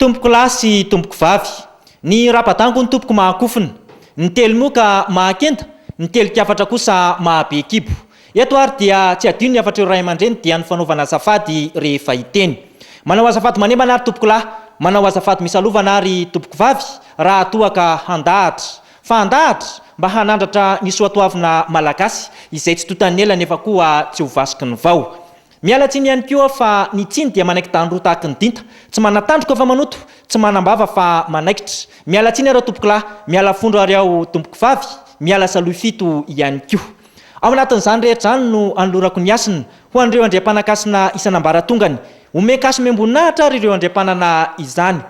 Tompoko lahy sy tompoko vavy. Ny raba-dango ny tompoko mahakofona. Ny telo moa ka mahakenda, ny telin-kafatra kosa mahabe kibo. Eto ary dia tsy hadino ny hafatr'ireo ray aman-dreny dia ny fanaovana azafady rehefa hiteny. Manao azafady manembana ary tompoko lahy, manao azafady misalovana ary tompoko vavy raha toa ka handahatra. Fa handahatra? Mba hanandratra ny soatoavina malagasy izay tsy tontan'ny ela nefa koa tsy ho vasiky ny vao. Miala tsiny ihany koa fa ny tsiny dia manaiky dandro tahaky ny dinta, tsy manatandroka fa manoto, tsy manambava fa manaikitra. Miala tsiny aho tompokolahy, miala fondro ary aho tompokovavy, miala salohy fito ihany koa. Ao anatin'izany rehetra izany no anolorako ny hasina ho an'ireo andriampanan-kasina isan'ambaratongany. Omen-kaso miambon'ahitra ary ireo andriampanana izany.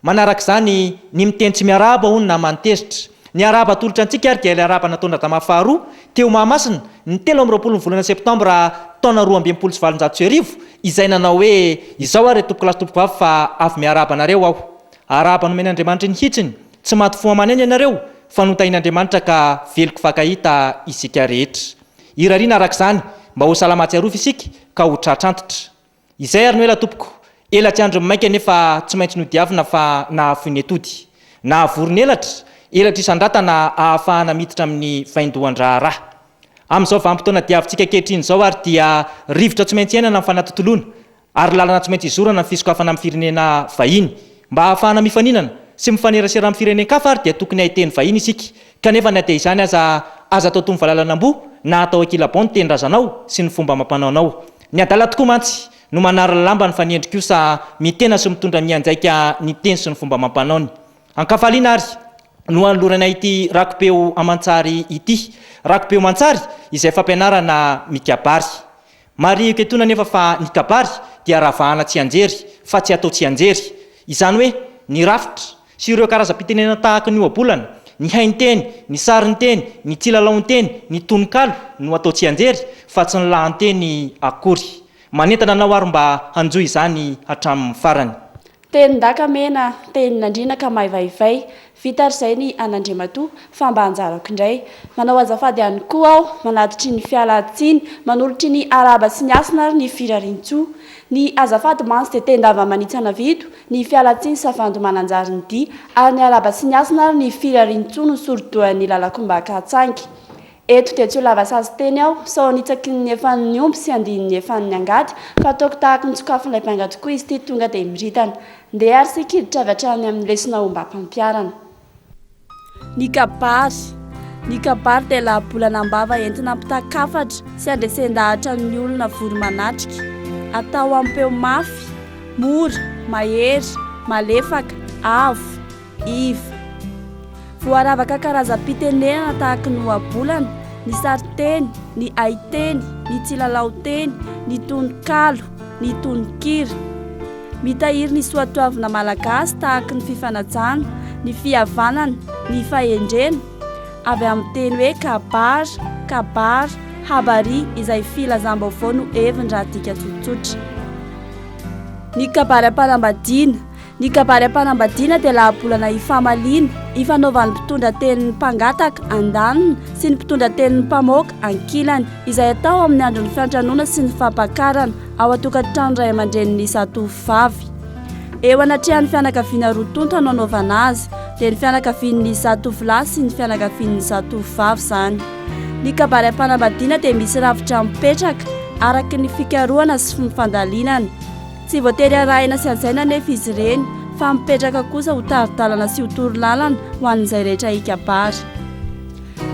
Manaraka izany, ny miteny tsy miarahaba hono na manitezitra. Ny arahaba atolotra antsika ary dia ilay arahaba nataon-dRadama faharoa, teo Mahamasina, ny telo amby roapolo ny volana septambra taona roa amby enimpolo sy valonjato sy arivo, izay nanao hoe, Izao ary ry tompokolahy sy tompokovavy fa avy miarahaba anareo aho. Arahaba nomen' Andriamanitry ny hitsiny, tsy maty fo aman'aina ianareo, fa notahin' Andriamanitra ka veloko fakahita isika rehetra. Irariana araka izany, mba ho salama ahatsiarovy isika, ka ho tratra antitra. Izay ary no ela tompoko, ela tsy andrin'ny maika nefa tsy maintsy nodiavina fa nahafoy ny atody. Nahavory ny elatra, elatra isandratana ahafahana miditra amin'ny vaindohan-draharaha. Amin'izao vanim-potoana diavintsika ankehitriny izao ary dia rivotra tsy maintsy iainana ny fanatontoloana ary lalana tsy maintsy izorana ny fisokafana amin'ny firenena vahiny. Mba ahafahana mifaninana sy mifanerasera amin'ny firenen-kafa ary dia tokony hahay teny vahiny isika Kanefa na dia izany aza, aza atao toy ny valalan'amboa na atao ankilabao ny tenindrazanao sy ny fomba amam-panaonao. Ny adala tokoa mantsy no manary lamba ny fanendry kosa mitena sy mitondra mianjaika ny teny sy ny fomba amam-panaony. An-kafaliana ary no anoloranay ity rakipeo aman-tsary ity. Rakipeo aman-tsary izay fampianarana mikabary. Marihiko etoana anefa fa ny kabary dia ravahana tsianjery fa tsy atao tsianjery. Izany hoe ny rafitra sy ireo karazam-pitenenana tahaka ny ohabolana, ny hainteny, ny sarinteny, ny kilalaon-teny, ny tononkalo no atao tsianjery fa tsy ny lahanteny akory. Manentana anao ary mba hanjo izany hatramin'ny farany. Tenin-daka mena, tenin'andriana ka maivaivay. Vita ary izay ny an'Andriamatoa, fa mba anjarako indray. Manao azafady ihany koa aho, manatitry ny fialan-tsiny, manolotry ny arahaba sy ny hasina ary ny firarian-tsoa. Ny azafady mantsy dia ten-dava manitsy anavido, ny fialantsiny savandy mananjary ny dia, ary ny araba sy ny hasina ary ny firariantsoa no sori-dohan'ny lalan-kombaka hatsangy. Eto dia tsy ho lava sazy teny aho, sao hanitsaky ny efan'ny omby sy handihy ny efan'ny angady, fa ataoko tahaka ny tsokafon'ilay mpiangaty koa izy ity tonga dia miritana. Ndeha ary isika hiditra avy hatrany amin'ny lesona ombam-pampiharana. Ny kabary Ny kabary dia lahabolana am-bava entina ampitan-kafatra sy andresen-dahatra ny olona vory manatrika. Atao amin'ny peo mafy, mora, mahery, malefaka, avo, iva. Voaravaka karazam-pitenenana tahaka ny ohabolana, ny sarinteny, ny haiteny, ny tsilalaon-teny, ny tononkalo, ny tononkira. Mitahiry ny soatoavina malagasy tahaky ny fifanajana, ny fihavanana, ny fahendrena, avy amin'ny teny hoe kabar, kabar, habari, izay filazam-baovao no heviny raha adika tsotsotra. Ny kabary am-panambadiana Ny kabary am-panambadiana dia lahabolana hifamaliana, hifanaovan'ny mpitondra tenin'ny mpangataka, andaniny, sy ny mpitondra tenin'ny mpamoaka, ankilany, izay atao amin'ny andron'ny fiantranoana sy ny fampakarana, ao an-tokantrano ray aman-dreny miisa tovovavy. Eo anatrehan'ny fianakaviana roa tonta no anaovana azy, dia ny fianakavian'ny miisa tovolahy sy ny fianakavian'ny miisa tovovavy izany. Ny kabary am-panambadiana dia misy rafitra mipetraka araka ny fikarohana sy ny fandalinana. Tsy voatery arahina sy hajaina anefa izy ireny fa mipetraka kosa ho tari-dalana sy ho torolalana ho an'izay rehetra hikabary.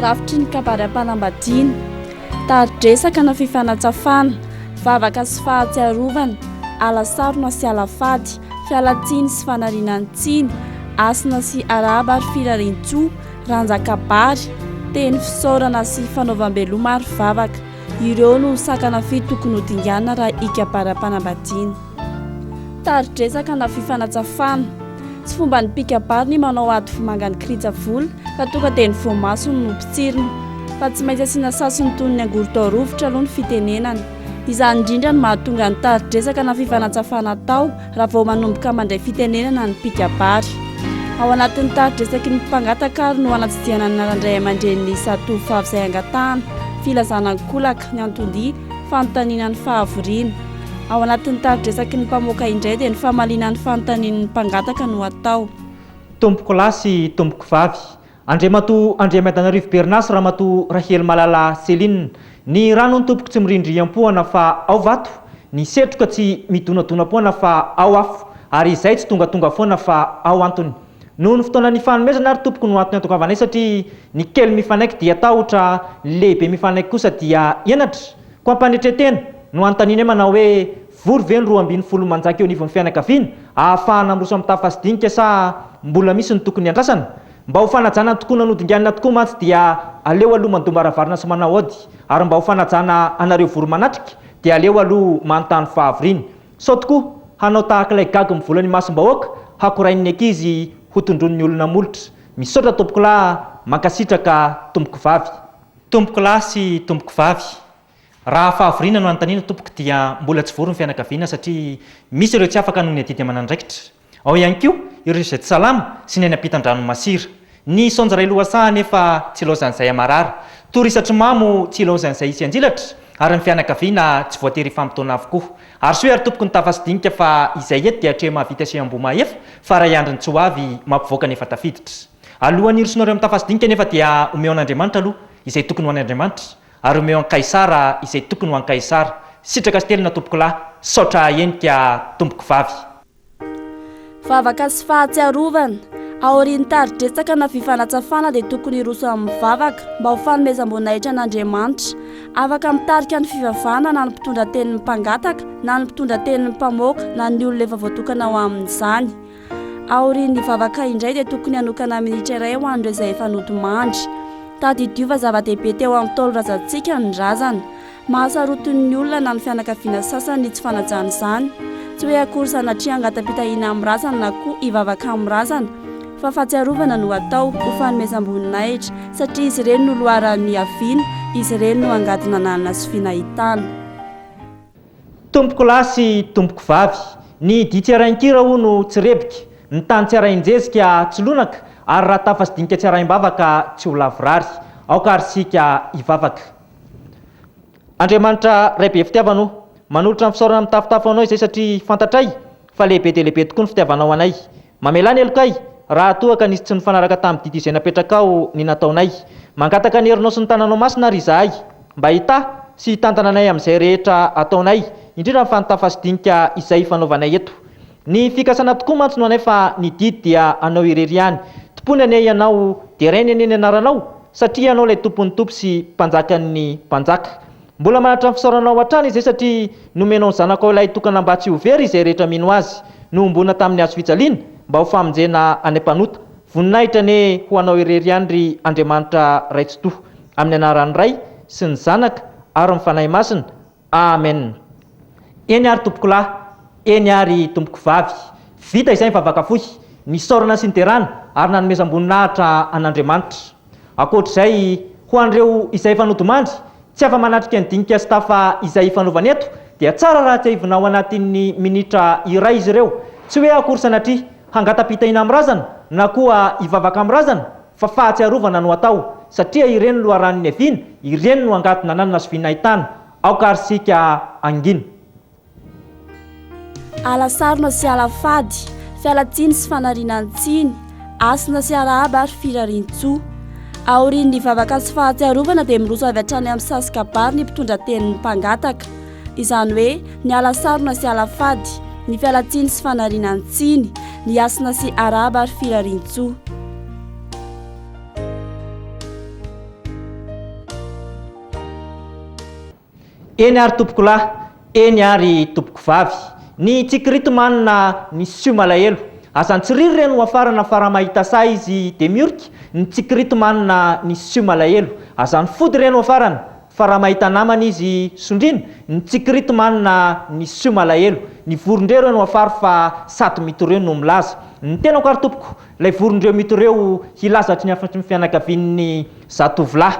Rafitry ny kabary am-panambadiana. Tari-dresaka na fifanatsafana, vavaka sy fahatsiarovana, ala sarona sy ala fady, fialan-tsiny sy fanariana ny tsiny, hasina sy arahaba ary firarian-tsoa, rantsan-kabary, teny fisaorana sy fanaovam-beloma ary vavaka. Ireo no sakana fito tokony ho dinganina raha hikabary am-panambadiana. Tari-dresaka na fifanatsafana. Tsy fomban'ny mpikabary ny manao ady vomanga ny kirija vola ka tonga dia ny voamasony no potsirina. Fa tsy maintsy asiana sasiny toy ny angorodao rovitra aloha ny fitenenana. Izany indrindra no mahatonga ny tari-dresaka na fifanatsafana atao raha vao manomboka mandray fitenenana ny mpikabary. Ao anatin'ny tari-dresaky ny mpangataka ary no hanatsidihana ny anaran-dray aman-drenin'ny zatovo vavy izay angatahana, filazana an-kolaka, ny anton-dia, Fanontaniana ny fahavoriana. Ao anatin'ny tari-dresaky ny mpamoaka indray dia ny famaliana ny fanontanian'ny mpangataka no atao. Tompoko lahy sy tompoko vavy, Andriamatoa Andriamiadanarivo Berna sy Ramatoa Rahelimalala Céline, ny rano ny tompoko tsy mirindry am-poana fa ao vato, ny setroka tsy midonadona am-poana fa ao afo, ary izay tsy tongatonga foana fa ao antony. Noho ny fotoana nifanomezana ary tompoko no antony antongavanay satria ny kely mifanaiky dia tahotra, ny lehibe mifanaiky kosa dia henatra. Koa am-panetren-tena no anontaninay manao hoe vory ve ny roa ambin'ny folo manjaka eo anivon'ny fianakaviana ahafahana miroso amin'ny tafa sy dinika sa mbola misy ny tokony hiandrasana? Mba ho fanajana ny tokoana nodinganina tokoa mantsy dia aleo aloha mandoa mbaravarana sy manao aody ary mba ho fanajana anareo vory manatrika dia aleo aloha manontany fahavoriana. Sao tokoa hanao tahaka ilay gaga mivola ny masom-bahoaka hakorain'ny ankizy ho tondroin'ny olona molotra. Misaotra tompokolahy, mankasitraka tompokovavy. Tompoko lahy sy tompoko vavy, raha fahavoriana no anontaniana tompoko dia mbola tsy vory ny fianakaviana satria misy ireo tsy afaka noho ny adidy aman'andraikitra, Ao ihany koa ireo izay tsy salama sy ny any ampitan-dranon'i Masira. Ny saonjo iray lohasaha anefa tsy ilaozan'izay amarara. Toa resatry mamo tsy ilaozan'izay hisy anjilatra ary ny fianakaviana tsy voatery hifampitaona avokoa. Arsoy ary tompoky ny tafa sy dinika fa izay eto dia atreha mahavita sy ambohimahefa fa ray andriny tsy ho avy mampivoaka ny efa tafiditra. Alohan'ny hirosoanareo amin'ny tafa sy dinika anefa dia omeo an'Andriamanitra aloha izay tokony ho an'Andriamanitra. Ary omeo an Kaisara izay tokony ho an Kaisara. Sitraka sy telina tompokolahy. Saotra ahenika tompokovavy. Vavaka sy fahatsiarovana. Aorian'ny tari-dretsaka na fifanatsafana dia tokony hiroso amin'ny vavaka mba ho fanomezam-boninahitra an'Andriamanitra. Afaka mitarika ny fivavahana na ny mpitondra tenin'ny mpangataka na ny mpitondra tenin'ny mpamoaka na ny olona efa voatokana ho amin'izany. Aorian'ny vavaka indray dia tokony hanokana minitra iray ho an'ireo izay efa nodimandry. Tadidio fa zava-dehibe teo amin'ny Ntaolo razantsika ny razana. Mahasaroty ny olona na ny fianakaviana sasany ny tsy fanajana izany. Tsy hoe akory sanatria hangata-pitahiana amin'ny razana na koa hivavaka amin'ny razana, fa fahatsiarovana no atao, ho fanomezam-boninahitra, satria izy ireny no loharanon'ny hiaviana, izy ireny no angady nananana sy finahitana. Tompoko lahy sy tompoko vavy. Ny dihy tsy arahin-kira hono tsy rebika, ny tany tsy arahin-jezika tsy lonaka, ary raha tafa sy dinika tsy arahin-bavaka tsy ho lavorary. Aoka ary isika hivavaka. Andriamanitra Ray be fitiavana o! Manolotra ny fisaorana mitafotafo ho Anao izay satria fantatray fa lehibe dia lehibe tokoa ny fitiavanao anay. Mamelà ny helokay raha toa ka nisy tsy nifanaraka tamin'ny didy izay napetrakao ny nataonay. Mangataka ny herinao sy ny tananao masina àry izahay, mba hitahy sy hitantana anay amin'izay rehetra ataonay, indrindra fa ny tafasidinika izay ifanaovanay eto. Ny fikasana tokoa mantsy no anay fa ny didy dia anao irery ihany. Tompoiny anie ianao, derainy anie ny anaranao, satria ianao ilay Tompon'ny tompo sy Mpanjakan'ny mpanjaka. Mbola mahantra ny fisaoranao hatrany izay satria nomenao ny Zanakao Ilay Tokana mba tsy ho very izay rehetra mino Azy. Nohomboana tamin'ny Hazo fijaliana mba ho famonjena any mpanota. Voninahitra anie ho Anao irery ihany ry Andriamanitra Ray Tsitoha. Amin'ny Anaran'ny Ray sy ny Zanaka ary ny Fanahy Masina. Amen. Eny ary Tompokolahy, eny ary Tompokovavy. Vita izay ny vavaka fohy, nisaorana sy niderana ary nanomezam-boninahitra an'Andriamanitra. Ankoatra izay, ho an'ireo izay efa nodimandry, tsy afa-manatrika ny dinika sy tafa izay ifanaovana eto, dia tsara raha tsiahivina ao anatin'ny minitra iray izy ireo, tsy hoe akory sanatria hangata-pitahiana amin'ny razana na koa hivavaka amin'ny razana, fa fahatsiarovana no atao, satria ireny no loharanon'ny haviana, ireny no angady nananina sy vina ahitana aoka ary isika hangina. Ala sarona sy ala fady, fialan-tsiny sy fanarinan-tsiny, hasina sy arahaba ary firarian-tsoa. Aorian'ny vavaka sy fahatsiarovana dia miroso avy hatrany amin'ny sazy kabary ny mpitondra tenin'ny mpangataka. Izany hoe ny ala sarona sy ala fady, ny fialan-tsiny sy fanarinan-tsiny, ny hasina sy arahaba ary firarian-tsoa. Eny ary tompokolahy, eny ary tompokovavy. Ny tsikirity manina misio malahelo. Aza antsiriry re no afarana fa raha mahita sahy izy dia miorika, ny tsikirity manina misio malahelo. Aza nifody re no afarana fa raha mahita namana izy sondriana, ny tsikirity manina misio malahelo. Ny vorondreo re no afary fa sady mitoreo no milaza. Ny tenako ary tompoko, ilay vorondreo mitoreo hilaza hatry ny afatry ny fianakavian'ny zatovolahy.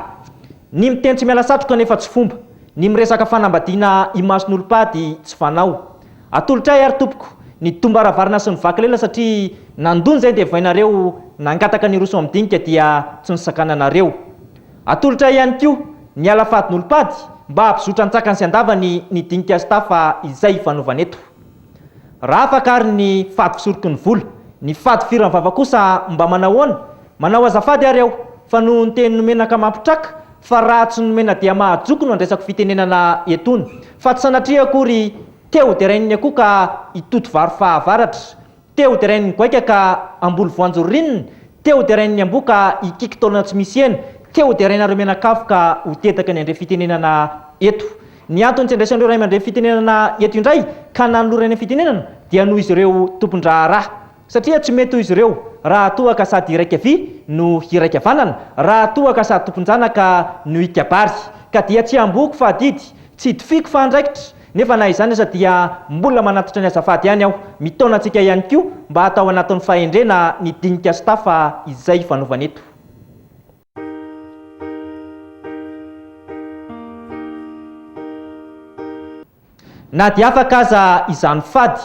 Ny miteny tsy miala satroka anefa tsy fomba, ny miresaka fanambadiana imason'olom-pady tsy fanao. Atolotra ahy ary tompoko ny dombaravarana sy ny vaky lela satria nandoa nizay devoinareo nangataka ny hiroso amin'ny dinika dia tsy nosakananareo. Atolotra ahy ihany koa ny ala fadin'olom-pady mba hampizotra an-tsakany sy an-davany ny dinika sy tafa izay ifanaovana eto. Raha afaka ary ny fady fisoroky ny vola, ny fady firan'ny vava kosa mba manahoana? Manao azafady ary aho fa noho ny teny nomena ka mampitraka fa raha tsy nomena dia mahajoko no andraisako fitenenana etony fa tsy sanatria akory te-hoderain'ny akoho ka hitoto vary fahavaratra, te-hoderain'ny goaika ka hamboly voanjo ririnina, te-hoderain'ny amboa ka hikiky taolana tsy misy hena, te-hoderainareo mianakavy ka ho dedaka ny handre fitenenana eto. Ny antony tsy andraisan'ireo ray aman-dreny fitenenana eto indray ka nanolora eny amin'ny fitenenana dia noho izy ireo tompon-draharaha. Satria tsy mety ho izy ireo raha toa ka sady iraika vy no hiraika vanana, raha toa ka sady tompon-janaka no hikabary. Ka dia tsy hambohiko fa adidy, tsy hidofiko fa andraikitra. Nefa na izany aza dia mbola manantitra ny azafady ihany aho. Mitaona antsika ihany koa mba hatao anatin'ny fahendrena ny dinika sy tafa izay ifanaovana eto. Na dia afaka aza izany fady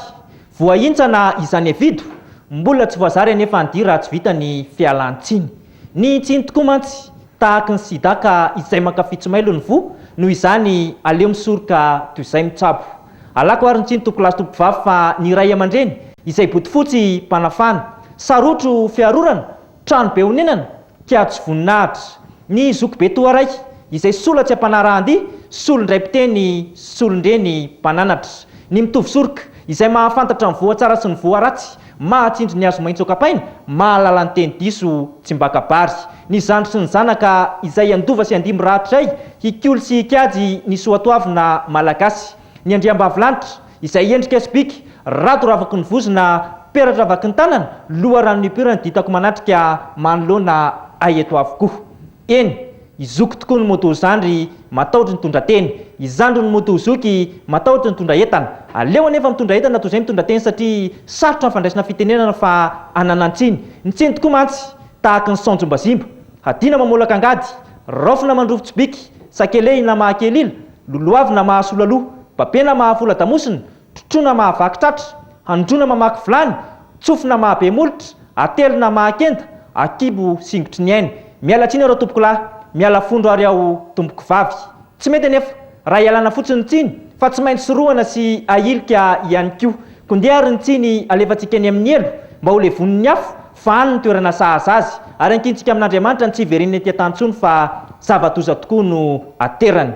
voahintsana izany Evido, mbola tsy voazary anefa ny dira tsy vita ny fialan-tsiny. Nihintsiny tokoa mantsy, tahaky ny sida ka izay mankafy tsy mailo ny voa, noho izany aleo misoroka toy izay mitsabo. Alako ary ny tsiny tompolahy sy tompovavy fa ny ray aman-dreny izay bodofotsy mpanafana, sarotro fiarorana Trano be onenana, kiajo voninahitra. Ny zokibe toa raiky, izay sola tsy ampanarahan-dia, solon-dray mpiteny, solon-dreny mpananatra. Ny mitovy soroka, izay mahafantatra ny voa tsara sy ny voa ratsy, mahatsindry ny hazo maitso an-kapaina, mahalala ny teny diso tsy mbakabary. Ny zandry sy ny zanaka, izay handova sy handia mirahadray, hikolo sy hikajy ny soatoavina malagasy. Ny andriambavilanitra. Izay endrika sy bika, rado ravaky ny vozona, peratra vaky ny tanana, loha rano nipirany dia hitako manatrika manoloana ahy eto avokoa. Eny, i Zoky tokoa no moto zandry, matahotra nitondra teny. I zandry no moto zoky, matahotra nitondra entana. Aleo anefa mitondra entana toy izay mitondra teny satria sarotra ny fandraisana fitenenana fa hanana ny tsiny. Ny tsiny tokoa mantsy, tahaky ny saonjombazimba. Hadina mamolaka angady, raofina mandrofy tsibika, sakelehina mahakelila, Lolohavy na mahasola loha, babe na mahavola damosina, trotroa na mahavaky tratra, handroa na mamaky vilany, tsofy na mahabe molotra, atelo na mahakenda, akibo singotry ny ainy. Miala tsiny aho ratompokolahy, miala fondro ary aho tompokovavy. Tsy mety anefa raha ialana fotsiny ny tsiny fa tsy maintsy sorohana sy ahilika ihany koa. Koa ndeha ary ny tsiny alefantsika eny amin'ny helo mba ho levonin'ny afo, fa any ny toerana sahaza azy, ary ankintsika amin'Andriamanitra ny tsy hiverin'ny ety an-tany intsony fa zava-doza tokoa no aterany.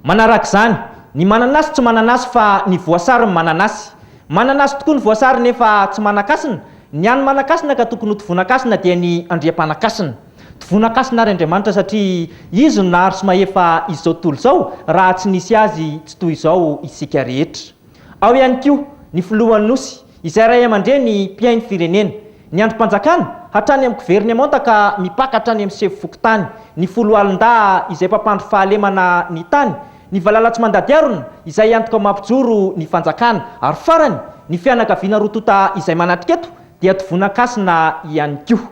Manarak'izany, ny mananasy tsy mananasy fa ny voasary no mananasy. Mananasy tokoa ny voasary nefa tsy manan-kasina, ny an'ny manan-kasina ka tokony ho tovonakasina dia ny andriampanan-kasina. Tvonakasina ary Andriamanitra satria Izy no nahary sy mahefa izao tontolo izao, raha tsy nisy Azy tsy toy izao isika rehetra. Ao ihany koa ny Filohan'ny Nosy, izay Ray aman-dReny mpihaino firenena. Ny Andrim-panjakana, hatrany amin'ny governemanta ka mipaka hatrany amin'ny sefo fokontany, ny Foloalindahy izay mpampandry fahalemana ny tany, ny valala tsy mandady harona izay antoka mampijoro ny fanjakana, ary farany, ny fianakaviana roa tonta izay manatrika eto dia tvonakasina ihany koa.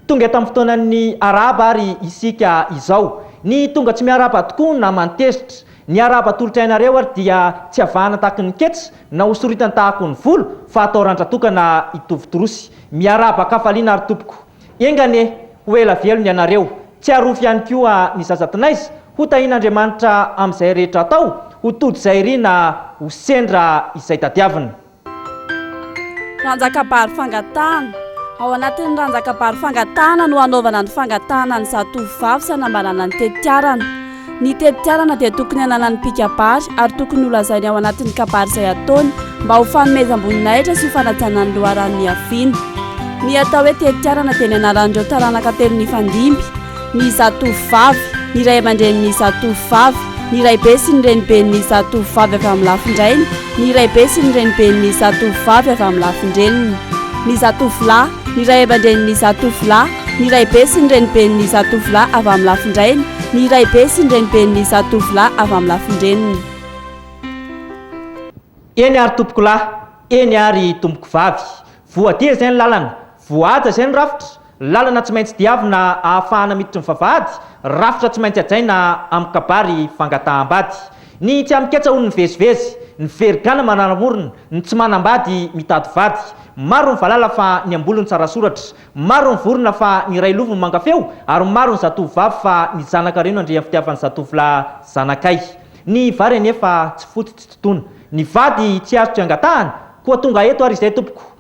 Tonga tamin'ny fotoanan'ny arahaba ary isika izao. Ny tonga tsy miarahaba tokoa na mantezitra. Ny arahaba atolotray anareo ary dia tsy avahana tahaky ny ketsa na hosoritany tahako ny volo fa atao randra-tokana hitovy torosy. Miarahaba an-kafaliana ary tompoko. Enga anie, ho ela velona ianareo. Tsy arofo ihany koa ny zaza tinaiza. Ho tahian'Andriamanitra amin'izay rehetra atao, ho tody izay iriana, ho sendra izay tadiavina. Ranjakabary fangatahana. Ao anatin'ny ranjakabary fangatahana no hanaovana ny fangatahana ny zatovovavy sy hanambarana ny tetiarana. Ny tetiarana dia tokony hananan'ny mpikabary ary tokony holazainy ao anatin'ny kabary izay ataony mba ho fanomezam-boninahitra sy ho fanajana ny loharano niaviany. Ny atao hoe tetiarana dia ny anaran'ireo taranaka telo nifandimby. ny zatovovavy, ny ray aman-drenin'ny zatovovavy, ny raibe sy ny reniben'ny zatovovavy avy amin'ny lafin-drainy, ny raibe sy ny reniben'ny zatovovavy avy amin'ny lafin-dreniny. Ny zatovolahy, ny ray aman-drenin'ny zatovolahy, ny raibe sy ny reniben'ny zatovolahy avy amin'ny lafin-drainy, ny raibe sy ny reniben'ny zatovolahy avy amin'ny lafin-dreniny. Eny ary tompokolahy, eny ary tompokovavy. Voadia izay ny lalana, voahaja izay ny rafitra, Lalana tsy maintsy diavina ahafahana miditry ny vavahady, rafitra tsy maintsy hajaina amin'ny kabary fangataham-bady. Ny tsy amin-ketsa hono mivezivezy, ny very gana manaramorona, ny tsy manam-bady mitady vady. Maro ny valala fa ny am-bolony tsara soratra, maro ny vorona fa ny iray lovony manga feo ary maro ny zatovovavy fa ny zanaka reno andrian'ny fitiavan'ny zatovolahy zanakay. Ny vary anefa tsy foto tsy totoina. Ny vady tsy azo tsy angatahana, koa tonga eto ary izay tompoko.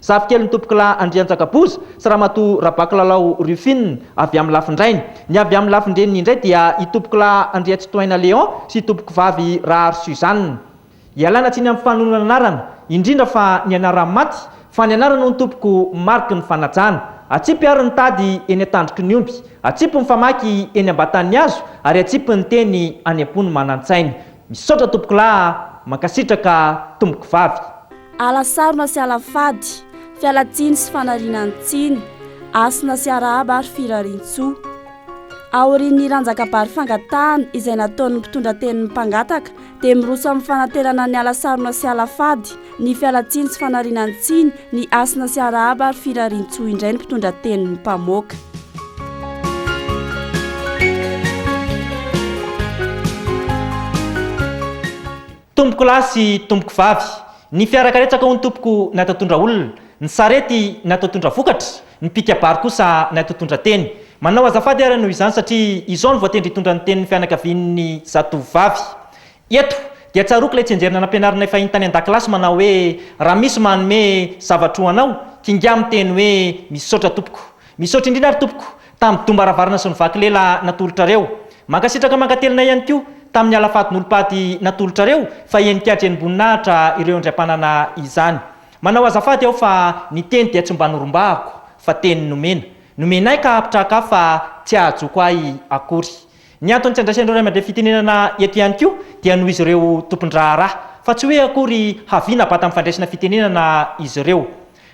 Zafikelin'i Tompokolahy Andrianjakaboza sy Ramatoa Rabakilalao Rufine avy amin'ny lafin-drainy. Ny avy amin'ny lafin-dreniny indray dia i Tompokolahy Andriatsitohaina Léon sy i Tompokivavy Rahary Suzanne. Ialana tsiny amin'ny fanonona ny anarana, indrindra fa ny anaran'ny maty, fa ny anarana hono tompoko mariky ny fanajana. Atsipy àry ny tady eny an-tandroky ny omby, atsipy ny famaky eny am-batan'ny hazo ary atsipy ny teny any am-po ny manan-tsaina. Misaotra tompokolahy a! Mankasitraka tompoko vavy. Ala sarona sy ala fady, fialan-tsiny sy fanariana ny tsiny, hasina sy arahaba ary firarian-tsoa. Aorian'ny hiran-jakabary fangatahana izay nataon'ny mpitondra tenin'ny mpangataka dia miroso amin'ny fanaterana ny ala sarona sy ala fady Ny fialantsiny sy fanariana ny tsiny, ny hasina sy arahaba ary firarian-tsoa indray ny mpitondra tenin'ny mpamoaka. Tompoko lahy sy tompoko vavy, ny fiara karetsaka hono tompoko natao tondra olona, ny sarety natao tondra vokatra, ny mpikabary kosa natao tondra teny. Manao azafady ary noho izany satria izao no voatendry hitondra ny tenin'ny fianakavian'ny zatovovavy. Eto, dia tsaroako ilay tsinjerina nampianarinay fahiny tany an-dakilasy manao hoe, Raha misy manome zavatra ho anao, kingahy miteny hoe, Misaotra tompoko. Misaotra indrindra ary tompoko, tamin'ny dom-baravarana sy ny vaky lela natolotrareo. Mankasitraka mankatelina ihany koa, tamin'ny ala fahadin'olom-pady natolotrareo, fa henin-kihatra henim-boninahitra ireo indray mpanana izany. Manao azafady aho fa ny teny dia tsy mba norombahako, fa teny nomena. Nomenay ka hahapitrahaka ahy fa tsy hahajoko ahy akory. Ny antony tsy andraisan'ireo ray aman-dreny fitenenana eto ihany koa dia noho izy ireo tompon-draharaha, fa tsy hoe akory havia na bata amin'ny fandraisana fitenenana izy ireo.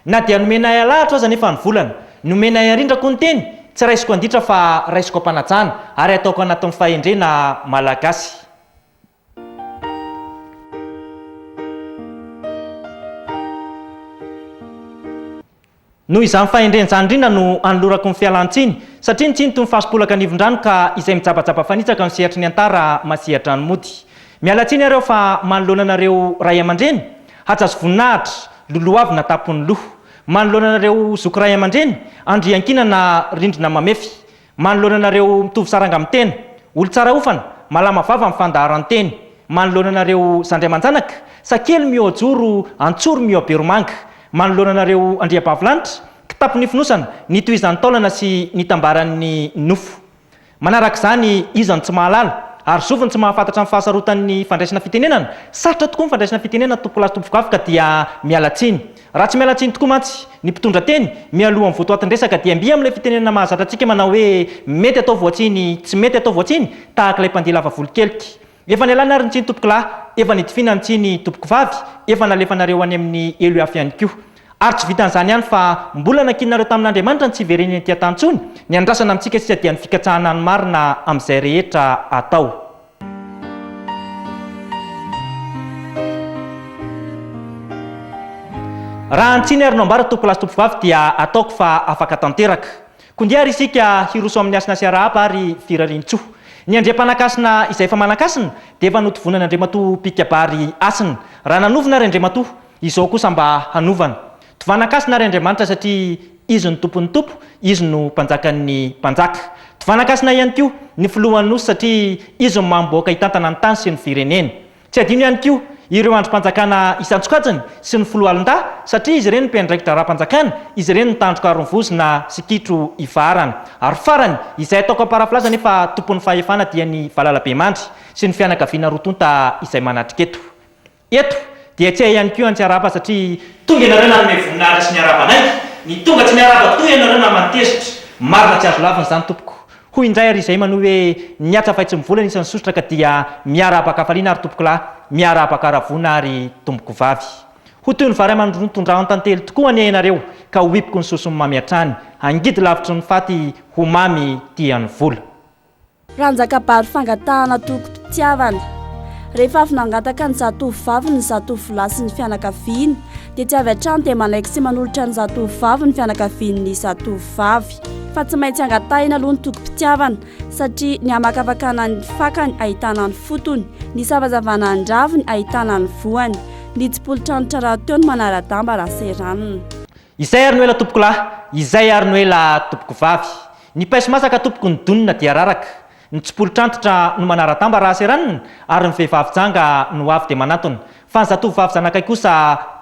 Na dia nomenay alahatra aza anefa ny volana, nomenay arindra koa ny teny, tsy raisiko anditra fa raisiko am-panajana ary ataoko anatin'ny fahendrena malagasy. Noho izany fahendrena izany indrindra no anolorako ny fialan-tsiny, satria nitsinto ny fasipolaka anivon-drano ka izay mijabajaba fanitsaka no sehatry ny antara masehatra ny mody. Miala tsiny aho reo fa manoloana anareo Ray aman-dreny, hajaso voninahitra, lolohavina tampon'ny loha. Manoloana anareo Zoky Ray aman-dreny, andriankinana rindrina mamefy. Manoloana anareo mitovy saranga amin'ny tena, olon-tsara hofana, malama vava amin'ny fandaharan-teny, manoloana anareo zandry aman-janaka, sakely mihoa-joro, antsoro mihoa-beromanga, manoloana anareo andriabavilanitra, kitapo nifonosana, nitohizan'ny taolana sy nitambaran'ny nofo. Manaraka izany, iza no tsy mahalala? Ary zovy no tsy mahafantatra ny fahasarotan'ny fandraisana fitenenana? Sarotra tokoa ny fandraisana fitenenana, tompokolahy sy tompokovavy, ka dia miala tsiny. Raha tsy miala tsiny tokoa mantsy ny mpitondra teny mialohan'ny votoatin-dresaka dia mby amin'ilay fitenenana mahazatra antsika manao hoe mety atao voatsiny, tsy mety atao voatsiny tahaka ilay mpandihy lava volo kelika. Efa nialana ary ny tsiny tompokolahy, efa nidifiana ny tsiny tompokovavy, efa nalefanareo any amin'ny ELUAF ihany koa. Ary tsy vitan'izany ihany fa mbola nankininareo tamin'Andriamanitra ny tsy hiverenany aty an-tany intsony, ny andrasana amintsika sisa dia ny fikatsahana ny marina amin'izay rehetra atao. Raha ny tsiny ary no ambara tompokolahy sy tompovavy dia ataoko fa afaka tanteraka. Kondia ary isika hiroso amin'ny hasina sy arahaba ary firarian-tsoa. Ny andriampanankasina izay efa manan-kasina dia efa notovonan'Andriamatoa Mpikabary hasina. Raha nanovona ary Andriamatoa, izao kosa mba hanovana. Tovana Kasina ary Andriamanitra satria Izy no Tompon'ny Tompo, Izy no Mpanjakan'ny Mpanjaka. Tovana Kasina ihany koa ny Filohan'ny Nosy satria Izy no mamim-bahoaka hitantana ny tany sy ny firenena. Tsy hadino ihany koa ireo andrim-panjakana isan-tsokajiny sy ny Foloalindahy satria izy ireny no mpiandraikitra ara-panjakana, izy ireny no tandroka aron'ny vozona sy kitro ifaharana. Ary farany, izay ataoko am-parafrazy anie fa Tompon'ny Fahefana dia ny valalabemandry sy ny fianakaviana roa tonta izay manatrika eto. Eto dia tsy hay ihany koa ny tsy arahaba satria. Tonga ianareo nanome voninahitra sy niarahaba anay, ny tonga tsy miarahaba toa ianareo naman'ny tezitra. Marina tsy azo lavina izany tompoko. Hoy indray ary izay manohy hoe niatsa fay tsy mivola ny isan'ny sosotra ka dia miarahaba an-kafaliana ary tompokolahy, miarahaba an-karavoana ary tompokovavy. Ho toy ny vary aman-dronono tondrahon'ny tantely tokoa anie ianareo ka ho hipoko ny sosony mamy hatrany, hangidy lavitry ny faty ho mamy tia ny vola. Ranjakabary fangatahana tokom-pitiavana. Rehefa avy nangataka ny zatovovaviny ny zatovolahy sy ny fianakaviany, dia tsy avy hatrany dia manaiky sy manolotra ny zatovovavy ny fianakaviany ny zatovovavy. Fa tsy maintsy angatahina aloha ny tokom-pitiavana, satria ny hamakafakana ny fakany ahitana ny fotony, ny savazavana ny raviny ahitana ny voany, ny tsipolitranotra rahateo no manara-damba raha seranina. Izay ary no ela tompoko lahy, izay ary no ela tompoko vavy. Ny paiso masaka tompoko ny donona dia raraka. Ny tsipolitr'antitra no manara-damba raha seranina ary ny vehivavy janga no avy dia manantona. Fa ny zatovovavy zanakay kosa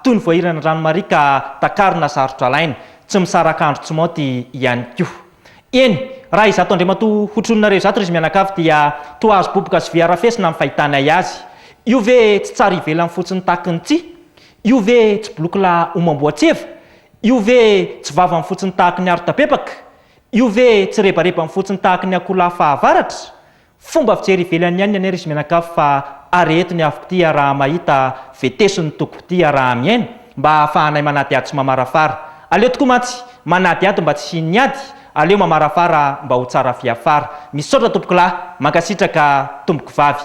toy ny voahiran'ny rano mariaka takarina sarotra alaina. Tsy misaraka andro tsy maonty ihany koa. Eny, raha izato Andriamatoa hotrononareo izato ry zy mianakavy dia toa hazo boboka sy vy harafesina ny fahitànay azy. Io ve tsy tsara ivelany fotsiny takin'ny tsihy? Io ve tsy blokla omam-boatseva? Io ve tsy vavany fotsiny tahaky ny arotabebaka? Io ve tsy rebarebany fotsiny tahaky ny akoholahy fahavaratra? Fomba fijery ivelany ihany anie ry Simenakavy fa arehetony avoko tia raha mahita, vetesony tokoko tia raha mihaino, mba ahafahanay manadihady sy mamarafara. Aleo tokoa mantsy manadihady mba tsy hisian'ny ady, aleo mamarafara mba ho tsara fiafara. Misaotra tompokolahy, mankasitraka tompoko vavy.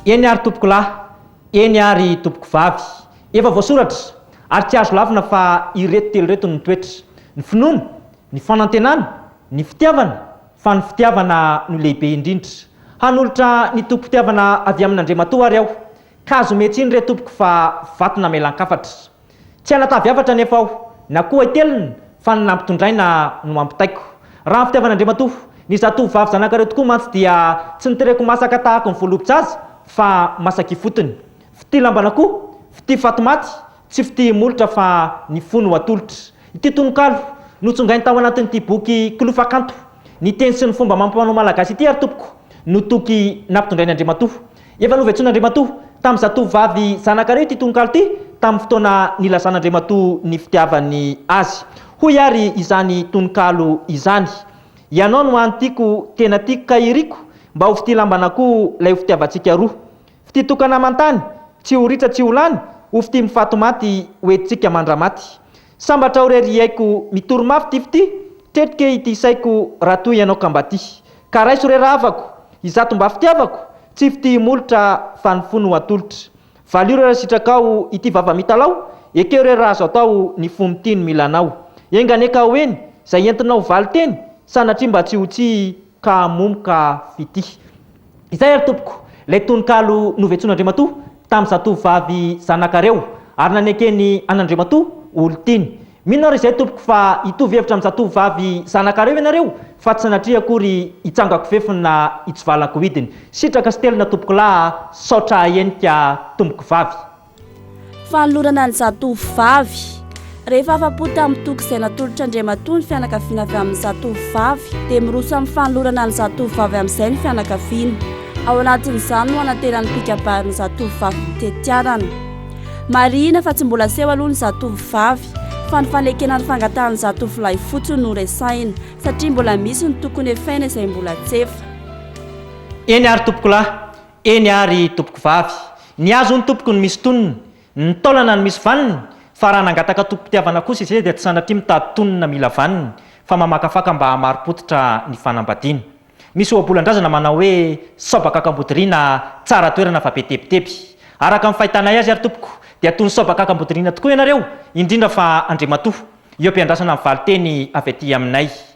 Eny ary tompoko lahy, eny ary tompoko vavy, efa voasoratra ary tsy azo lavina fa ireto telo ireto ny toetra, ny finoana, ny fanantenana, ny fitiavana, fa ny fitiavana no lehibe indrindra. Hanolotra ny tokim-pitiavana avy amin'Andriamatoa ary aho, ka azo ometsy iny re tompoko fa vato namelan-kafatra. Tsy hanatavy hafatra anefa aho, na koa hitelina, fa ny nampitondraina no ampitaiko. Raha ny fitiavan'Andriamatoa, ny zatovovavy zanakareo tokoa mantsy dia tsy notereko masaka tahaka ny voalobots'azy fa masaka ifotony. Fitia lambana koa, fitia fatimaty, tsy fitia himolotra fa ny fo no atolotra. Ity tononkalo, notsongainy tao anatin'ity boky Kilofakanto, ny teny sy ny fomba amam-panao malagasy ity ary tompoko, no toky nampitondrain'Andriamatoa. Efa novetsoin'Andriamatoa tamin'ny zatovovavy zanakareo ity tononkalo ity tamin'ny fotoana nilazan'Andriamatoa ny fitiavany azy. Hoy ary izany tononkalo izany, Ianao no hany tiako, tena tiako ka iriko, mba ho fitia lamban'akoho 'lay ho fitiavantsika roa. Fitia tokana aman-tany, tsy ho ritra tsy ho lany, ho fitia mifato-maty, ho entintsika mandra-maty. Sambatra aho re ry aiko mitory mafy ty f'ty tretrike ity saiko raha toa ianao ka mba ty ka raiso re rahavako izato mba fitiavako tsy f'ty himolotra fa ny fo no atolotra valio re raha sitrakao ity vava mitalaho ekeo re raha azo atao ny fo mitia no mila anao enga anie ka ho eny zay entinao valin-teny sanatria mba tsy ho tsy ka hamomoka fitia. Izay ary tompoko ilay tononkalo novetsoan'Andriamatoa tamin'ny zatovovavy zanakareo ary nanekeny an'Andriamatoa olon-tiany. Mino aho raha izay tompoko fa hitovy hevitra amin'ny zatovovavy zanakareo ianareo fa tsy sanatria akory hitsangako fefy na hitsivalako hidiny. Sitraka sy telina tompokolahy a! Saotra ahenika tompoko vavy. Fanolorana ny zatovovavy. Rehefa afa-po tamin'ny toky izay natolotr'Andriamatoa ny fianakaviana avy amin'ny zatovovavy, dia miroso amin'ny fanolorana ny zatovovavy amin'izay ny fianakaviana. Ao anatin'izany no anateran'ny mpikabary ny zatovovavy ho tetiarana. Marihina fa tsy mbola seho aloha ny zatovovavy, fa ny fanekena ny fangatahan'ny zatovolahy fotsiny no resahina, satria mbola misy ny tokony hefaina izay mbola tsy efa. Eny ary tompokolahy, Eny ary tompoko vavy, ny azy hono tompoko no misy tonony, ny taolana no misy vaniny, fa raha nangataka tokim-pitiavana kosa izay dia tsy sanatria mitady tonony na mila vaniny, fa mamakafaka mba hamari-pototra ny fanambadiana. Misy ohabolan-drazana manao hoe, sao bakak'Ambodiriana tsara toerana fa be tebiteby. Araka ny fahitanay azy ary tompoko dia toy ny sao bakak'Ambodiriana tokoa ianareo, indrindra fa Andriamatoa, eo am-piandrasana ny valin-teny avy aty aminay.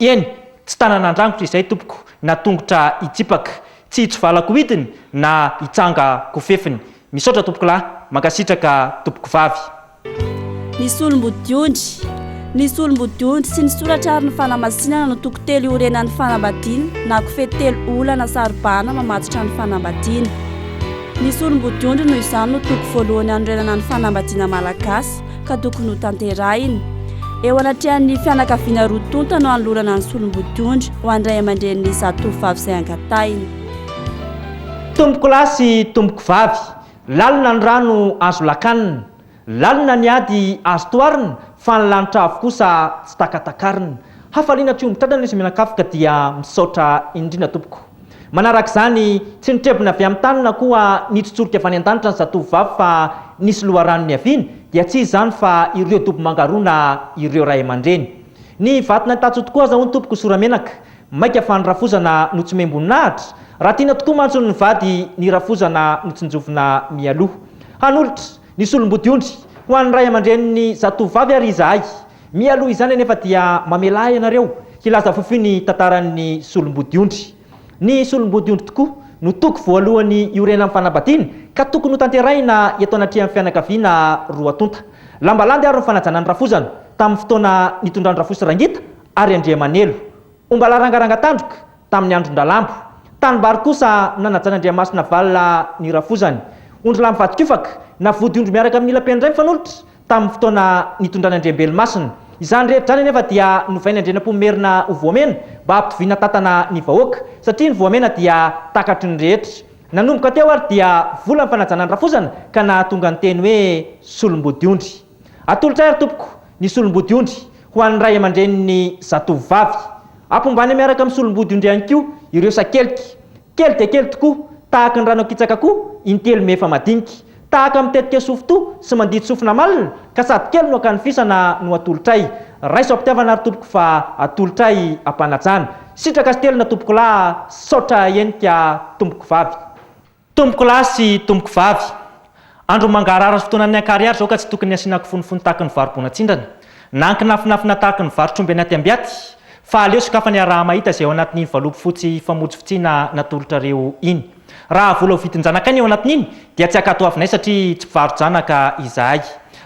Eny, tsy tanana andrangotra izay tompoko na tongotra hitsipaka, tsy hitsivalako hidiny na hitsanga kofefiny. Misaotra tompokolahy, mankasitraka tompokovavy. Ny solombodiondry Ny solombodiondry sy ny soratra ary ny fanamasinana no toko telo iorenan'ny fanambadiana na kofehy telo olana saro-bahana mamatotra ny fanambadiana. Ny solombodiondry noho izany no toko voalohany hanorenana ny fanambadiana malagasy. ka tokony ho tanterahina. Eo anatrehan'ny fianakaviana roa tonta no anolorana ny solombodiondry ho an-dray aman-drenin'ny zatovovavy izay angatahina. Tompoko lahy sy tompoko vavy, lalina ny rano azo lakanina, lalina ny ady azo toharina fa ny lanitra avo kosa tsy takatakarina. Hafaliana hatreo mitrandrana izy mianakavy ka dia misaotra indrindra tompoko. Manaraka izany, tsy nitrebona avy amin'ny tany na koa nitsotsorika avy any an-danitra ny zatovovavy fa nisy loharano niaviany, dia tsy iza izany fa ireo dobo mangarona ireo ray aman-dreny. Ny vato naitatso tokoa aza hono tompoko Soramenaka, maika fa ny rafozana no tsy miham-boninahitra? Raha tiana tokoa mantsy hono ny vady, ny rafozana no tsinjovina mialoha. Hanolotra. Ny solombodiondry, ho an'ny ray aman-drenin'ny zatovovavy ary izahay. Mialoha izany anefa dia mamelà ahy ianareo hilaza fohifohy ny tantaran'ny solombodiondry. Ny solombodiondry tokoa no toko voalohany iorenan'ny fanambadiana ka tokony hotanterahina eto anatrehan'ny fianakaviana roa tonta. Lamba landy ary ny fanajana ny rafozana tamin'ny fotoana nitondran-dRafosy Rangita ary Andriamanelo. Omba larangaranga tandroka tamin'ny andron-dRalambo. Tanimbary kosa nanajan'Andriamasina valona ny rafozany. Ondry lahy mivadi-kofaka, na vodiondry miaraka amin'ny ila-peny iray mifanolotra, tamin'ny fotoana nitondràna Andriambelomasina. Izany rehetra izany anefa dia novain'i Andrianampoinimerina ho voamena mba hampitoviana tantana ny vahoaka, satria ny voamena dia takatry ny rehetra. Nanomboka teo ary dia vola ny fanajana ny rafozana ka nahatonga ny teny hoe solom-bodiondry. Atolotray ary tompoko ny solombody ondry ho an'ny ray aman-drenin'ny zatovo vavy. Apombany miaraka amin'ny solombody ondry ihany koa ireo sakelika. Kely dia kely tokoa, tahaka ny rano akitsaka koa intelo mihefa madinika. Tahaka mitetika sofintoa sy mandidy sofina malina ka sady kely no akanofisana no atolotray. Raiso am-pitiavana ary tompoko fa atolotray am-panajana. Sitraka sy telina tompokolahy, saotra henika tompoko vavy. Tompoko lahy sy tompoko vavy, andro mangarahara sy fotoanan'ny ankarihary izao ka tsy tokony hasiana kifonofony tahaka ny vary bonan-tsindrana, na ankinafinafina tahaka ny vary tromby anaty ambiaty, fa aleo sokafana iaraha-mahita izay ao anatin'iny valopy fotsy famotsifotsiana natolotrareo iny. Raha vola ho vidin-janakay ny ao anatin'iny, dia tsy hankatoavinay satria tsy mpivaro-janaka izahay.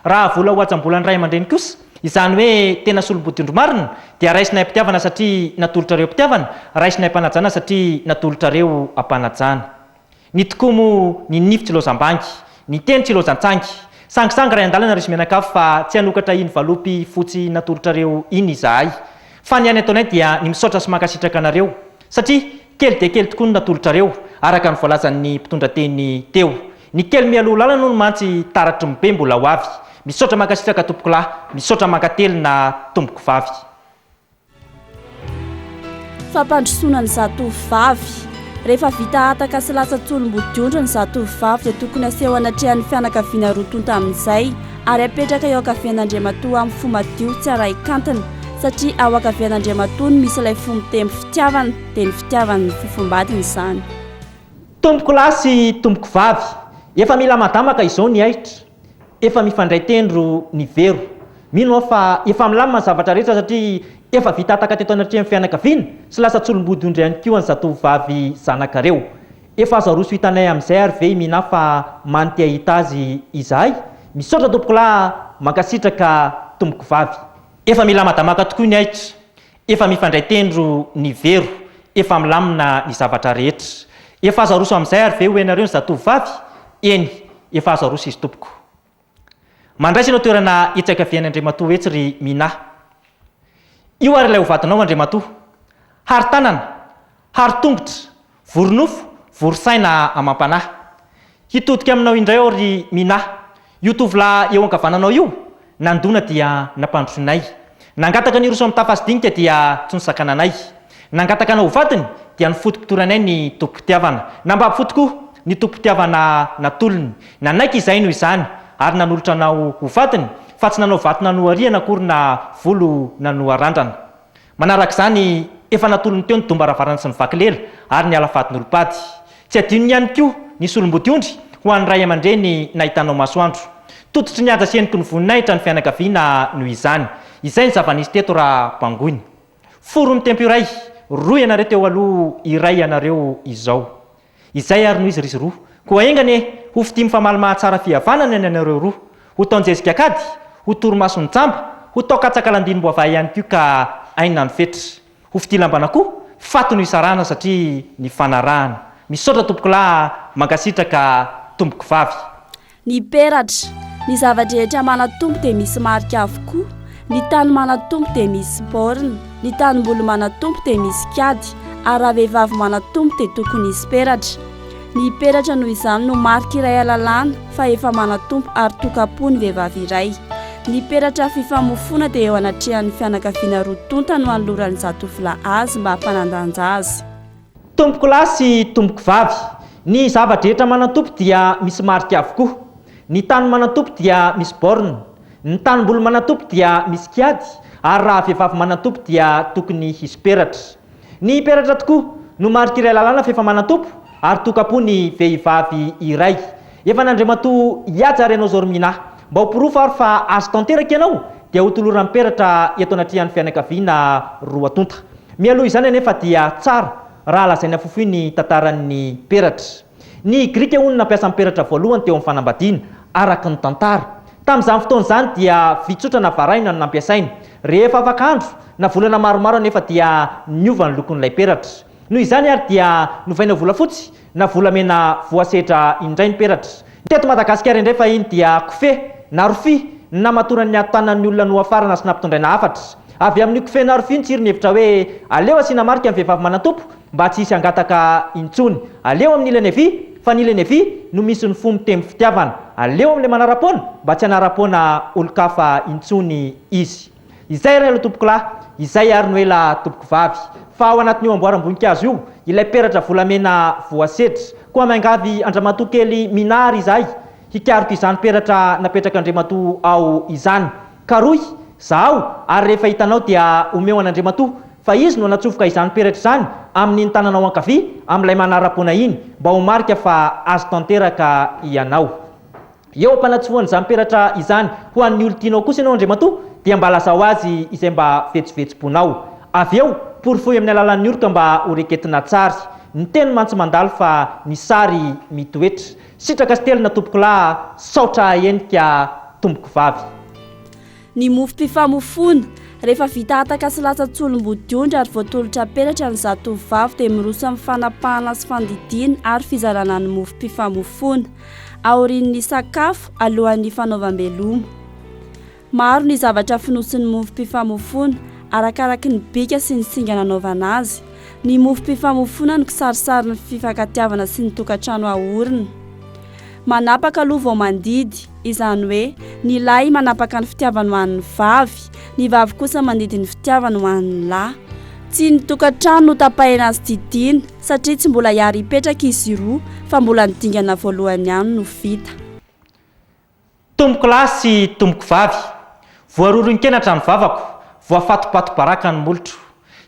Raha vola ho hajam-bolan'ny ray aman-dreny kosa, Izany hoe tena solombodin-dry marina dia raisinay am-pitiavana satria natolotrareo am-pitiavana, raisinay am-panajana satria natolotrareo am-panajana. Ny tokoa moa ny nify tsy lozam-bangy, ny teny tsy lozan-tsangy. Sangisangy iray an-dalana ry Zmenakafo fa tsy hanokatra iny valopy fotsy natolotrareo iny izahay. Fa ny aina ataonay dia ny misaotra sy mankasitraka anareo Satria kely dia kely tokoa ny natolotrareo, araka ny voalazan'ny mpitondra teny teo. Ny kely mialoha lalana hono mantsy taratry ny be mbola ho avy. Misaotra mankasitraka tompokolahy. Misaotra mankatelina tompoko vavy. Fampandrosoana ny zatovo vavy. Rehefa vita hataka sy latsa-tsolom-bodiondry ny zatovo vavy dia tokony aseho anatrehan'ny fianakaviana roa tonta amin'izay. ary apetraka eo ankavian'Andriamatoa amin'ny fo madio tsy arahi-kantony satria ao ankavian'Andriamatoa no misy ilay fo mitempo fitiavana, dia ny fitiavany ny fofombadiny izany. Tompoko lahy sy tompoko vavy, efa mila madamaka izao ny ahitra, efa mifandray tendro ny vero. Mino aho fa efa milamina ny zavatra rehetra satria efa vita hataka teto anatrehan'ny fianakaviana sy lasa tsolom-bodiondry ihany koa ny zatovovavy zanakareo. Efa azo aroso hitanay amizay ary ve i Minah fa many te ahita azy izahay? Misaotra tompokolahy a! Mankasitraka tompoko vavy. Efa milamadamaka tokoa ny ahitra, efa mifandray tendro ny vero, efa milamina ny zavatra rehetra. Efa azo aroso amin'izay ary ve ho henareo ny zatovo vavy? Eny, efa azo aroso izy tompoko. Mandraisa anao toerana hiantsakaviany Andriamatoa ho etsy ry Minà. Io ary ilay ho vadinao Andriamatoa. Hary tanana, hary tongotra, vory nofo, vory saina amam-panahy. Hitodika aminao indray aho ry Minà. Io tovolahy eo ankavananao io, nandona dia nampandrosoinay. Nangataka ny hiroso amin'ny tafasy dinika dia tsy nosakana anay. Nangataka anao ho vadiny dia ny foto-pitory anay ny tobim-pitiavana. Nambabo fo tokoa ny tobim-pitiavana natolony. Nanaiky izahay noho izany ary nanolotra anao ho vadiny fa tsy nanao vato nanohariana akory na volo nanoharandrana. Manarak'izany efa natolony teo ny domba ravarana sy ny vaky lela ary ny ala fadin'olom-pady. Tsy adino ihany koa ny solombodiondry ho an'ny ray aman-dreny nahitanao masoandro. Tototry ny haja sy heniky ny voninahitra ny fianakaviana noho izany. Izay ny zava-nisy teto raha bangoina. Foro mitempo iray, roa ianareo teo aloha, iray ianareo izao. Izay ary no izy ry roa. Koa enga anie, ho fitia mifamaly mahatsara fihavanana ny anareo roa. Ho taon-jezika an-kady, ho torimason'ny jamba, ho taon-katsaka landinim-boavaha ihany koa ka aina ny fetra. Ho fidilam-bana koa faty no hisarahana satria nifanarahana. Misaotra tompokolahy a! Mankasitraka tompokovavy. Ny peratra, ny zava-drehetra manatompo dia misy marika avokoa, ny tany manatompo dia misy borne, ny tanimboly manatompo dia misy kady, ary raha vehivavy manatompo dia tokony hisy peratra. Ny peratra noho izany no marika iray alalana fa efa manatompo ary tokam-po ny vehivavy iray. Ny peratra fifamofoana dia eo anatrehan'ny fianakaviana roa tonta no anoloran'ny zatovolahy azy mba hampanandanja azy. Tompoko lahy sy tompoko vavy. Ny zava-drehetra manantompo dia misy marika avokoa. Ny tany manantompo dia misy borne. Ny tanimboly manantompo dia misy kiady ary raha vehivavy manantompo dia tokony hisy peratra. Ny peratra tokoa no maritiray lalàna f'efa manan-tompo ary toka-po ny vehivavy iray. Efa an'Andriamatoa Ihaja Renozorimina. Mba ho porofo ary fa azo tanteraka ianao dia hotoloran'ny peratra eto anatrehan'ny fianakaviana roa tonta. Mialoha izany anefa dia tsara raha lazaina fofoy ny tantaran'ny peratra. Ny Grika hono nampiasa ny peratra voalohany teo amin'ny fanambadiana, araka ny tantara. Tamin'izany fotoana izany dia vitsotra na varahina no nampiasaina. Rehefa afaka andro na volana maromaro anefa dia niova ny lokon'ilay peratra. Noho izany ary dia novaina ho volafotsy na volamena voasedra indray ny peratra. Ny teto Madagasikara indray fahiny dia kofehy na rofia no namatoran'ny ady tanan'ny olona nohafarana sy nampitondraina hafatra. Avy amin'io kofehy na rofia io ny tsiro nihevitra hoe aleo asiana marika ny vehivavy manan-tompo mba tsy hisy hangataka intsony, aleo amin'ny ilany havia fa ny ilany havia no misy ny fo mitempo fitiavana, aleo amin'ilay manara-poana mba tsy hanara-poana olon-kafa intsony izy. Izay ary aloha tompokolahy, izay ary no ela tompokovavy, fa ao anatin'io amboaram-boninkazo io ilay peratra volamena voasedra, koa miangavy an-dramatoa kely Minah ary izahay hikaroka izany peratra napetrak'Andriamatoa ao izany. Karohy, zahao, ary rehefa hitanao dia omeo an'Andriamatoa, fa izy no natsofoka izany peratra izany amin'iny tananao ankavia amin'ilay manara-poana iny, mba ho marika fa azy tanteraka ianao. Eo am-panatsofohan'izany peratra izany ho an'ny olon-tianao kosa ianao, Andriamatoa, dia mba lazao azy izay mba vetsovetsom-ponao. Avy eo, porofoy amin'ny alalan'ny oroka mba ho reketina an-tsary. Ny teny mantsy mandalo fa ny sary mitoetra. Sitraka sy telina tompokolahy a! Saotra ahenika tompokovavy. Ny mofom-pifamofoana. Rehefa vita hataka sy latsan-tsolom-bodiondry ary voatolotra peratra ny zatovovavy dia miroso amin'ny fanapahana sy fandidiana ary fizarana ny mofom-pifamofoana. Aorian'ny sakafo, alohan'ny fanaovam-beloma. Maro ny zavatra fonosin'ny mofom-pifamofoana, arakaraky ny bika sy ny singa nanaovana azy. Ny mofom-pifamofoana no kisarisary ny fifankatiavana sy ny tokantrano aorina. Manapaka aloha vao mandidy, izany hoe ny lahy manapaka ny fitiavany ho an'ny vavy, ny vavy kosa mandidy ny fitiavany ho an'ny lahy. Tsy ny tokantrano no tapahina sy didiana, satria tsy mbola hiary hipetraka izy roa, fa mbola ny dingana voalohany ihany no vita. Tompoko lahy sy tompoko vavy, voaroron-kenatra ny vavako, voafatopato-baraka ny molotro.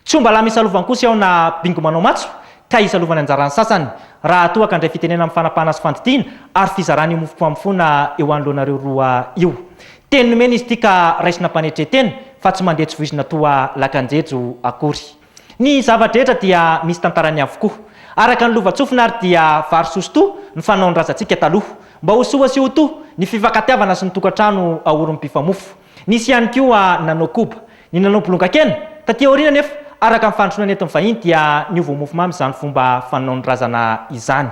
Tsy omba lama isalovankosa aho na bingo manao matso ka isalovany anjara ny sasany, raha toa ka handray fitenenana amin'ny fanapahana sy fandidiana ary fizarana io mofom-pamofoana eo anoloanareo roa io. Teny nomena izy ity ka raisina am-panetre-tena fa tsy mandeha tsy voizina toa lakan-jejo akory. Ny zava-drehetra dia misy tantarany avokoa. Araka ny lovantsofina ary dia vary sosotoa ny fanaon-drazantsika taloha. Mba ho soa sy ho to ny fifankatiavana sy ny tokantrano aorin'ny mpifamofo. Nisy ihany koa ny nanao koba, ny nanao bolongakena. Taty aoriana anefa, araka ny fandrosoana nentin'ny vahiny dia niova ho mofomamy izany fomba fanaon-drazana izany.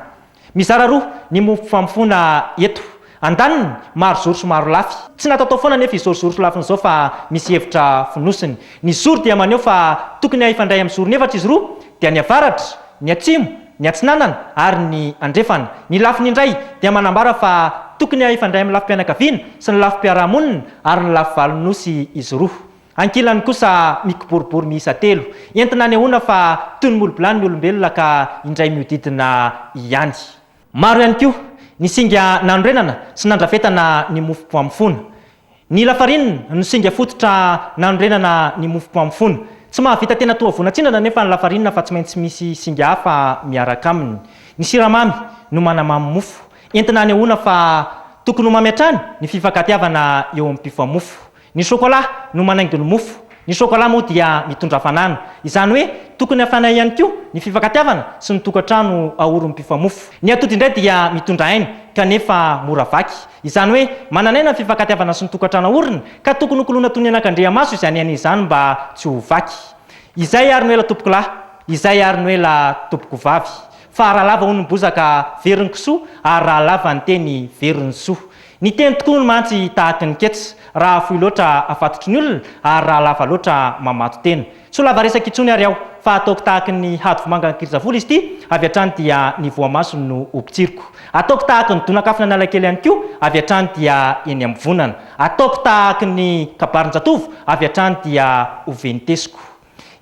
Mizara roa ny mofo famofoana eto. Andaniny, maro zoro sy maro lafy. Tsy natao tao foana anefa izao zoro sy lafiny izao fa misy hevitra fonosiny. Ny zoro dia maneho fa tokony hifandray amin'ny zorony efatra izy roa, dia ny avaratra, ny atsimo, ny atsinanana ary ny andrefana. Ny lafiny indray dia manambara fa tokony hifandray amin'ny lafim-pianakaviana sy ny lafim-piarahamonina ary ny lafivalon'ny nosy izy roa. Ankilany kosa mikiboribory miisa telo. Entina anehoana fa toy ny molobilany ny olombelona ka indray mihodidina ihany. Maro ihany koa ny singa nanorenana sy nandrafetana ny mofom-poamofona. Ny lafarinina no singa fototra nanorenana ny mofom-poamofona. Tsy mahavita tena toa voan'atsindana anefa ny lafarinina fa tsy maintsy misy singa hafa miaraka aminy. Ny siramamy no manamamy mofo. Entina anehoana fa tokony ho mamy hatrany ny fifankatiavana eo amin'ny mpifamofo. Ny sôkôlà no manaingo ny mofo. Ny sôkôlà moa dia mitondra hafanana. Izany hoe tokony hafana ihany koa ny fifankatiavana sy ny tokantrano aorin'ny mpifamofo. Ny atody indray dia mitondra aina kanefa mora vaky. Izany hoe manana aina ny fifankatiavana sy ny tokantrano aorina ka tokony hokoloina toy ny anakandriamaso izany aina izany mba tsy ho vaky. Izay ary no ela tompoko lahy, izay ary no ela tompoko vavy. Fa raha lava hono ny bozaka, very ny kisoa, ary raha lava ny teny, very ny soa. Niteny tokoa hono mantsy tahaky ny kets, raha fohy loatra afatotry ny olona ary raha lava loatra mamato tena. Tsy ho lava resaka intsony ary aho, fa ataoko tahaky ny hadivomanga an'Ikirizavola izy ity, avy hatrany dia ny voamasony no hopotsiriko. Ataoko tahaky ny donakafona Analakely ihany koa, avy hatrany dia eny am-bivonana. Ataoko tahaky ny kabarin-jatovo, avy hatrany dia hovenitesiko.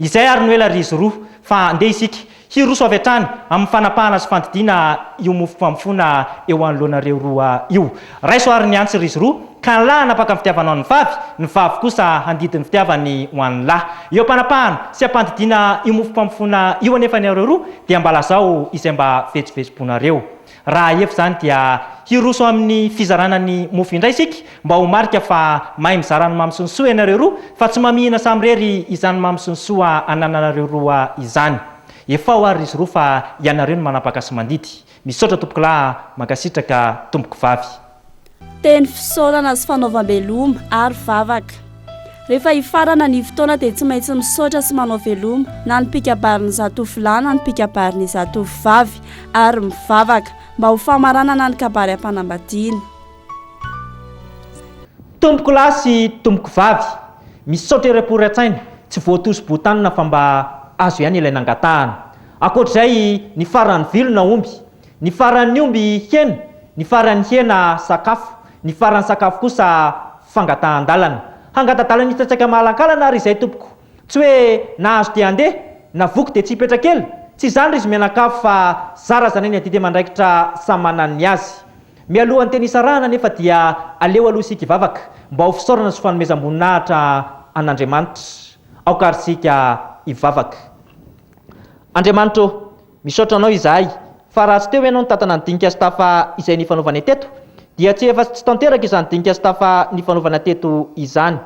Izay ary no ela ry izy roa, fa andeha isika, hiroso avy hatrany amin'ny fanapahana sy fandidiana io mofo famofoana eo anoloanareo roa io. Raiso ary ny antsy ry izy roa, ka ny lahy hanapaka ny fitiavany ho an'ny vavy, ny vavy kosa handidy ny fitiavany ho an'ny lahy. Eo am-panapahana sy am-pandidiana io mofo famofoana io anefa ny areo roa, dia mba lazao izay mba vetsovetsom-ponareo. Raha ahia f'izany dia hiroso amin'ny fizarana ny mofo indray isika mba ho marika fa mahay mizara ny mamy sy ny soa ianareo roa fa tsy mamihina samirery izany mamy sy ny soa anananareo roa izany. Efao ary izy roa fa ianareo no manapaka sy mandidy. Misaotra tompokolahy a! Mankasitraka tompoko vavy. Teny fisaorana sy fanaovam-beloma ary vavaka. Rehefa hifarana ny fotoana dia tsy maintsy misaotra sy manao veloma na ny mpikabarin'ny zatovolahy na ny mpikabarin'ny zatovovavy ary mivavaka mba ho famaranana ny kabary am-panambadiana. Tompoko lahy sy tompoko vavy, misaotra ireo mpory an-tsaina, tsy voatosi-botanina fa mba azo ihany ilay nangatahana. Ankoatr'izay, ny farany vilona omby. Ny faran'ny omby hena, ny faran'ny hena sakafo, ny faran'ny sakafo kosa fangatahan-dalana. Hangata-dalana hiditra tsaika mahalankalana ary izay tompoko. Tsy hoe nahazo dia andeha, na voky dia tsy hipetra kely. Tsy izany ry zmianakavy fa zarazanay ny adidy aman-draikitra samy manana ny azy. Mialohan'ny teny hisarahana anefa dia aleo aloha isika hivavaka mba ho fisaorana sy fanomezam-boninahitra an'Andriamanitra. Aoka ary isika hivavaka. Andriamanitra ô! Misaotra anao izahay, fa raha tsy teo ianao nitantana ny dinika sy tafa izay nifanaovanay teto, dia tsy efa tsy tanteraka izany dinika sy tafa nifanaovana teto izany.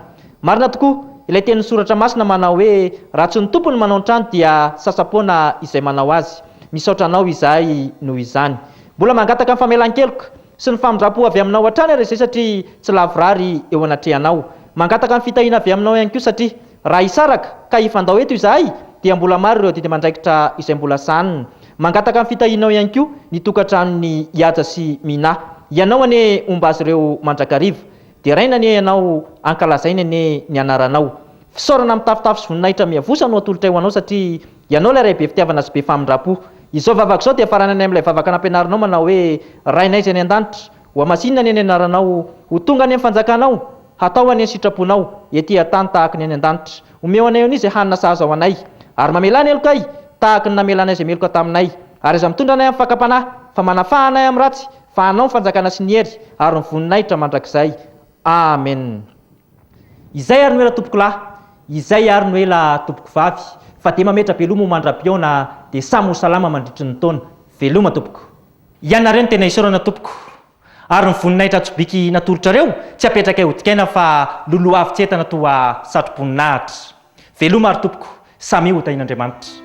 Marina tokoa, ilay tenin'ny Soratra Masina manao hoe, Raha tsy ny Tompo no manao ny trano dia sasa-poana izay manao azy. Misaotra anao izahay noho izany. Mbola mangataka ny famelan-keloka sy ny famindram-po avy aminao hatrany ary izay satria tsy lavorary eo anatrehanao. Mangataka ny fitahiana avy aminao ihany koa satria Raha hisaraka ka hifandao eto izahay dia mbola maro ireo adidy aman-draikitra izay mbola sahanina. Mangataka ny fitahianao ihany koa ny tokantranon'i Ihaja sy Minah. Ianao anie homba azy ireo mandrakariva. Deraina anie ianao, ankalazaina anie ny anaranao. Fisaorana mitafotafo sy voninahitra miavosa no atolotray ho anao satria ianao ilay Ray be fitiavana sy be famindram-po. Izao vavaka izao dia faranany amin'ilay vavaka nampianarinao manao hoe, Rainay izay any an-danitra, Ho hamasinina anie ny anaranao, ho tonga anie ny fanjakanao, hatao anie ny sitraponao, ety an-tany tahaka ny any an-danitra. Omeo anay anie izay hanina sahaza ho anay, ary mamelà ny helokay tahaka ny namela anay izay meloka taminay. Ary aza mitondra anay amin'ny fakam-panahy, fa manafaha anay amin'ny ratsy, fa anao ny fanjakana sy ny hery ary ny voninahitra mandrakizay. Amen. Izay ary no ela tompoko lahy, izay ary no ela tompoko vavy, fa dia mametra-beloma ho mandra-pihaona, dia samy ho salama mandritry ny taona. Veloma tompoko. Ianareo no tena isaorana tompoko ary ny voninahitra tsobiky natolotrareo tsy apetrakay ho dikaina fa loloha avy tsy entana toa satroboninahitra. Veloma ary tompoko, samia ho tahian'Andriamanitra.